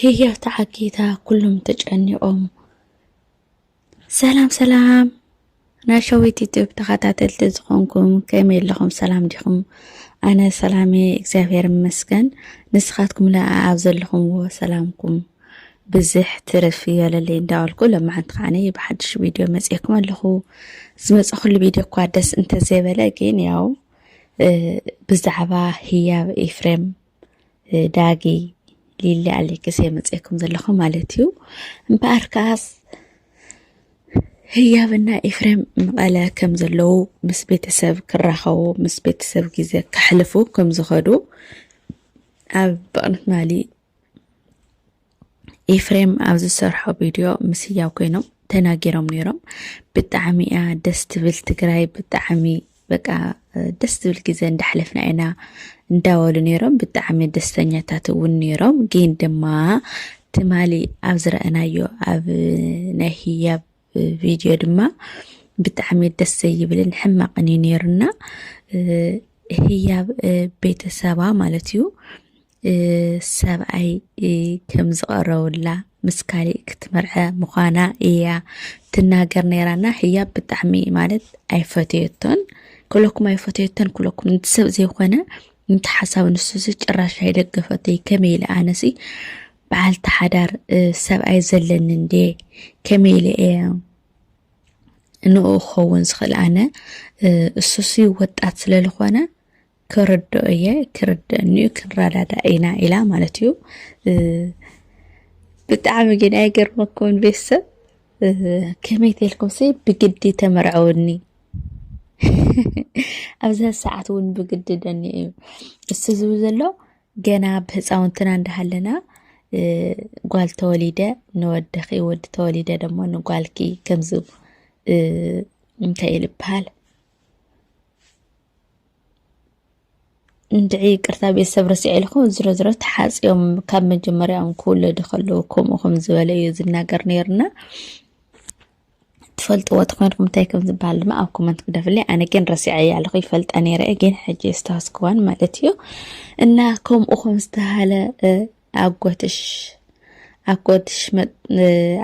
ህያብ ተዓጊታ ኩሎም ተጨኒቖም። ሰላም ሰላም ናይ ሸዊት ዩቱብ ተኸታተልቲ ዝኾንኩም ከመይ ኣለኹም? ሰላም ዲኹም? ኣነ ሰላሜ እግዚኣብሔር ይመስገን። ንስኻትኩም ለኣ ኣብ ዘለኹምዎ ሰላምኩም ብዝሕ ትርፍ ይበለለይ እንዳበልኩ ለማዓንቲ ከዓኒ ብሓድሽ ቪድዮ መፅኤኩም ኣለኹ። ዝመፀኹሉ ቪድዮ እኳ ደስ እንተዘይበለ ግን ያው ብዛዕባ ህያብ ኤፍሬም ዳጊ ሊሊ ኣሌክስ የመፅኩም ዘለኹ ማለት እዩ እምበኣር ከዓስ ህያብና ኤፍሬም መቐለ ከም ዘለዉ ምስ ቤተሰብ ክራኸቡ ምስ ቤተሰብ ግዜ ከሕልፉ ከም ዝኸዱ ኣብ በቕነት ማሊ ኤፍሬም ኣብ ዝሰርሖ ቪድዮ ምስ ህያው ኮይኖም ተናጊሮም ነይሮም። ብጣዕሚ እያ ደስ ትብል ትግራይ ብጣዕሚ በቃ ደስ ትብል ግዜ እንዳሕለፍና ኢና እንዳበሉ ነይሮም። ብጣዕሚ ደስተኛታት እውን ነይሮም። ግን ድማ ትማሊ ኣብ ዝረአናዮ ኣብ ናይ ህያብ ቪድዮ ድማ ብጣዕሚ ደስ ዘይብልን ሕማቕን እዩ ነይሩና ህያብ ቤተሰባ ማለት እዩ ሰብኣይ ከም ዝቐረውላ ምስ ካሊእ ክትመርዐ ምዃና እያ ትናገር ነይራና ህያብ ብጣዕሚ ማለት ኣይፈተየቶን ኩለኩም ኣይፈተየቶን ኩለኩም ንቲ ሰብ ዘይኮነ ንቲ ሓሳብ ንሱ ጭራሽ ኣይደገፈተይ ከመይ ኢለ ኣነሲ በዓልቲ ሓዳር ሰብኣይ ዘለኒ እንድየ ከመይ ኢለ እየ ንኡ ክኸውን ዝኽእል ኣነ እሱሲ ወጣት ስለ ዝኾነ ክርድኦ እየ ክርድአኒ እዩ ክንረዳዳእ ኢና ኢላ ማለት እዩ ብጣዕሚ ግን ኣይገርመኩም ቤተሰብ ከመይ ተልኩም ሲ ብግዲ ተመርዐውኒ ኣብዛ ሰዓት እውን ብግዲ ደኒ እዩ እሱ ዝብል ዘሎ ገና ኣብ ህፃውንትና እንዳሃለና ጓል ተወሊደ ንወደኺ ወዲ ተወሊደ ደሞ ንጓልኪ ከምዚ እንታይ እዩ ዝበሃል እንድዒ ይቅርታ ቤተሰብ ረሲዐ ኢልኩ ዝሮ ዝሮ ተሓፂኦም ካብ መጀመርያኦም ክውለዱ ከለዉ ከምኡ ከም ዝበለ እዩ ዝናገር ነይርና ትፈልጥዎ ተኾይንኩም እንታይ ከም ዝበሃል ድማ ኣብ ኮመንት ግደፍለይ ኣነ ግን ረሲዐያ ኣለኹ ይፈልጣ ነይረ ግን ሕጂ ዝተሃስክዋን ማለት እዩ እና ከምኡ ከም ዝተሃለ ኣጎትሽ ኣጎትሽ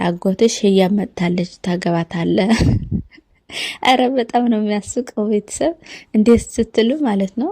ኣጎትሽ ህያብ መጥታለች ታገባታለ ኧረ በጣም ነው የሚያስቀው ቤተሰብ እንዴት ስትሉ ማለት ነው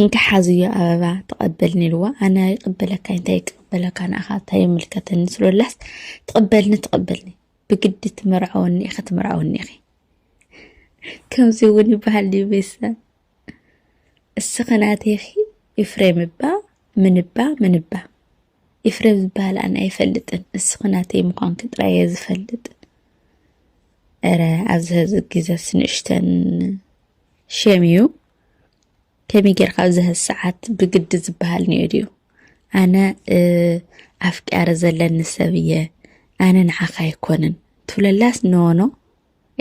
እንካ ሓዝዮ ኣበባ ተቐበልኒ ኢልዋ ኣነ ይቕበለካ እንታይ ይቅበለካ ንኣኻ እንታይ ይምልከተኒ ስለላስ ትቕበልኒ ትቕበልኒ ብግዲ ትመርዐወኒ ኢኺ ትመርዐወኒ ኢኺ ከምዚ እውን ይበሃል ድዩ ቤተሰብ እስኺ ናተይኺ ይፍሬም እባ ምንባ ምንባ ኤፍሬም ዝበሃል ኣነ ኣይፈልጥን እስኺ ናተይ ምዃንኪ ጥራይ እየ ዝፈልጥ እረ ኣብዚ ህዚ ግዘስ ንእሽተን ሸም እዩ ከመይ ጌርካ ኣብዚ ህዚ ሰዓት ብግዲ ዝበሃል ኒኦ ድዩ ኣነ ኣፍቅያረ ዘለኒ ሰብ እየ ኣነ ንዓኻ ኣይኮንን ትብለላስ ኖኖ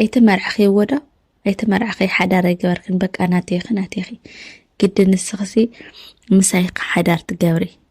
ኣይተመርዕኺ ወዶ ኣይተመርዕኺ ሓዳር ኣይገበርክን በቃ ናተይኺ ናተይኺ ግዲ ንስኽሲ ምሳይካ ሓዳር ትገብሪ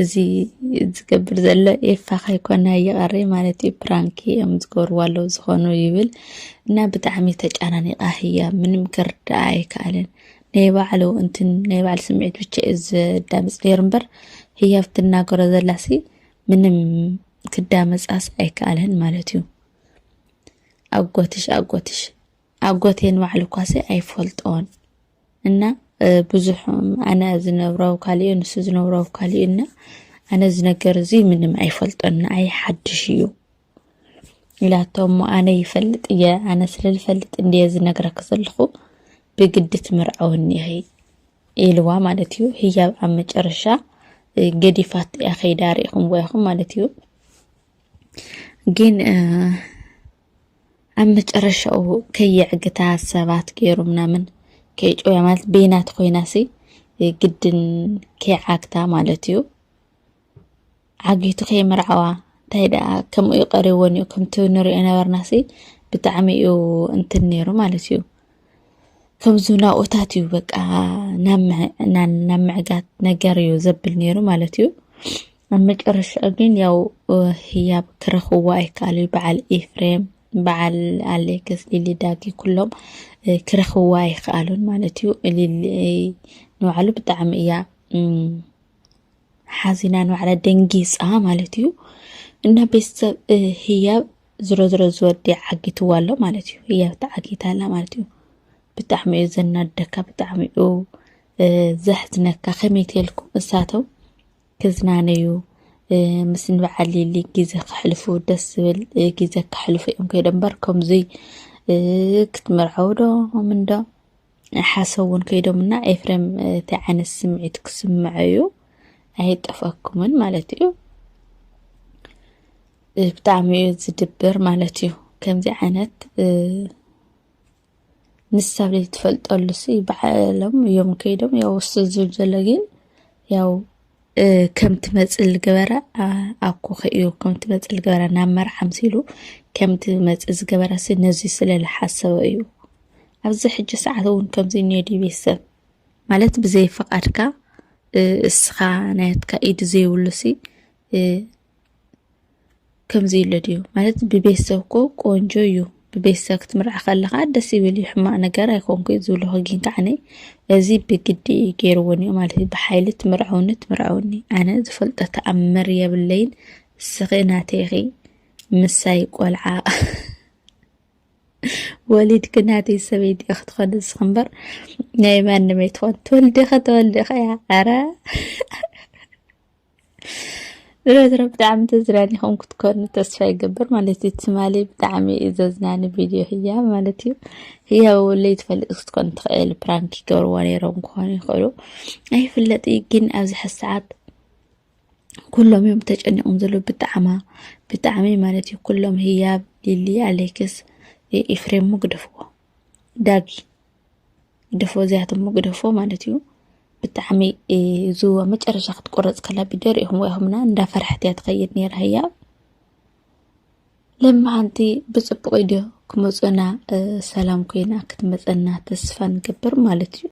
እዚ ዝገብር ዘሎ ኤፋ ከይኮነ ይቐሪ ማለት እዩ ፕራንኪ እዮም ዝገብርዎ ኣለዉ ዝኾኑ ይብል እና ብጣዕሚ ተጨናኒቃ ህያ ምንም ክርዳኣ ኣይከኣለን ናይ ባዕሉ እንትን ናይ ባዕሉ ስምዒት ብቻ እዩ ዘዳምፅ ነይሩ እምበር ህያ ብትናገሮ ዘላሲ ምንም ክዳመፃስ ኣይከኣለን ማለት እዩ ኣጎትሽ ኣጎትሽ ኣጎቴ ንባዕሉ እኳሲ ኣይፈልጦን እና ብዙሕ ኣነ ዝነብሮ ኣብ ካሊኡ ንሱ ዝነብሮ ኣብ ካሊኡ እና ኣነ እዚ ነገር እዚ ምንም ኣይፈልጦን ንኣይ ሓድሽ እዩ ኢላቶ እሞ ኣነ ይፈልጥ እየ ኣነ ስለ ዝፈልጥ እንድየ ዝነግረኪ ዘለኹ ብግዲ ትምርዐወኒ ኢኺ ኢልዋ ማለት እዩ ህያብ ኣብ መጨረሻ ገዲፋት እያ ከይዳ ሪኢኹምዎ ኢኹም ማለት እዩ ግን ኣብ መጨረሻኡ ከየዕግታ ሰባት ገይሩ ምናምን ከይጮያ ማለት ቤናት ኮይናሲ ግድን ከይዓግታ ማለት እዩ ዓጊቱ ከይምርዓዋ እንታይ ደኣ ከምኡ እዩ ቀሪዎን እዩ ከምቲ ንሪኦ ነበርናሲ ብጣዕሚ እዩ እንትን ነይሩ ማለት እዩ ከምዚ ናብኡታት እዩ በቃ ናብ ምዕጋት ነገር እዩ ዘብል ነይሩ ማለት እዩ ኣብ መጨረሻ ግን ያው ህያብ ክረኽብዎ ኣይከኣሉ በዓል ኤፍሬም በዓል ኣሌክስ ሊሊ ዳጊ ኩሎም ክረኽብዎ ኣይከኣሉን ማለት እዩ ሊሊ ንባዕሉ ብጣዕሚ እያ ሓዚና ንባዕላ ደንጊፃ ማለት እዩ እና ቤተሰብ ህያብ ዝሮ ዝሮ ዝወዲ ዓጊትዋ ኣሎ ማለት እዩ ህያብ ተዓጊታ ኣላ ማለት እዩ ብጣዕሚ እዩ ዘናደካ ብጣዕሚ እዩ ዘሕዝነካ ከመይ ትልኩም እሳቶም ክዝናነዩ ምስ ንበዓል ሊሊ ግዜ ከሕልፉ ደስ ዝብል ግዜ ከሕልፉ እዮም ከይዶ እምበር ከምዙይ ክትምርዐው ዶ ምንዶ ሓሰብ እውን ከይዶምና ኤፍሬም እንታይ ዓይነት ስምዒት ክስምዐ እዩ ኣይጠፍኣኩምን ማለት እዩ ብጣዕሚ እዩ ዝድብር ማለት እዩ ከምዚ ዓይነት ንሳብ ዘይትፈልጠሉ ሲ በዓሎም እዮም ከይዶም ያው እሱ ዝብል ዘሎ ግን ያው ከም ትመፅእ ዝገበረ ኣኮ ከእዩ ከም ትመፅእ ዝገበረ ናብ መርዓ ምሲሉ ከም ትመፅእ ዝገበረ ሲ ነዚ ስለ ዝሓሰበ እዩ ኣብዚ ሕጂ ሰዓት እውን ከምዚ እኒኦ ድዩ ቤተሰብ ማለት ብዘይ ፈቃድካ እ፣ እስኻ ናትካ ኢድ ዘይብሉ ሲ እ፣ ከምዚ ኢሉ ድዩ ማለት ብቤተሰብ እኮ ቆንጆ እዩ ብቤተሰብ ክትምርዓ ከለካ ደስ ይብል እዩ ሕማቅ ነገር ኣይኮንኩ ዝብሎ ግን ከዓ እዚ ብግዲ እዩ ገይርዎ እኒኦ ማለት እዩ ብሓይሊ ትምርዐውኒ ትምርዐውኒ ኣነ ዝፈልጦ ተኣምር የብለይን እስኺ ናተይ ኢኺ ምሳይ ቆልዓ ወሊድ ክናተይ ሰበይቲ እያ ክትኾን ንስኺ እምበር ናይ ማንም ኣይትኾን ትወልዲ ኸ ተወልዲ ኸ እያ ኣረ ዝሮ ዝሮ ብጣዕሚ ተዝናኒኹም ክትኮኑ ተስፋ ይገብር ማለት እዩ ትማሊ ብጣዕሚ እዩ ዘዝናኒ ቪድዮ ህያ ማለት እዩ ህያ ወለይ ትፈልጥ ክትኮን ትኽእል ፕራንክ ይገብርዎ ነይሮም ክኾኑ ይኽእሉ ኣይፍለጥ እዩ ግን ኣብዚ ሕዚ ሰዓት ኩሎም እዮም ተጨኒቆም ዘሎ ብጣዕማ ብጣዕሚ ማለት እዩ ኩሎም ህያብ ሊሊ ኣሌክስ ኤፍሬም ግደፍዎ ዳጊ ግደፎ እዚኣቶም ግደፎ ማለት እዩ ብጣዕሚ እዚ መጨረሻ ክትቆረፅ ከላ ቪድዮ ሪኢኹም ኢኹምና እንዳፈርሐት እያ ትኸይድ ነይራ ህያ ለማዓንቲ ብፅቡቕ ድዮ ክመፁና ሰላም ኮይና ክትመፀና ተስፋ ንገብር ማለት እዩ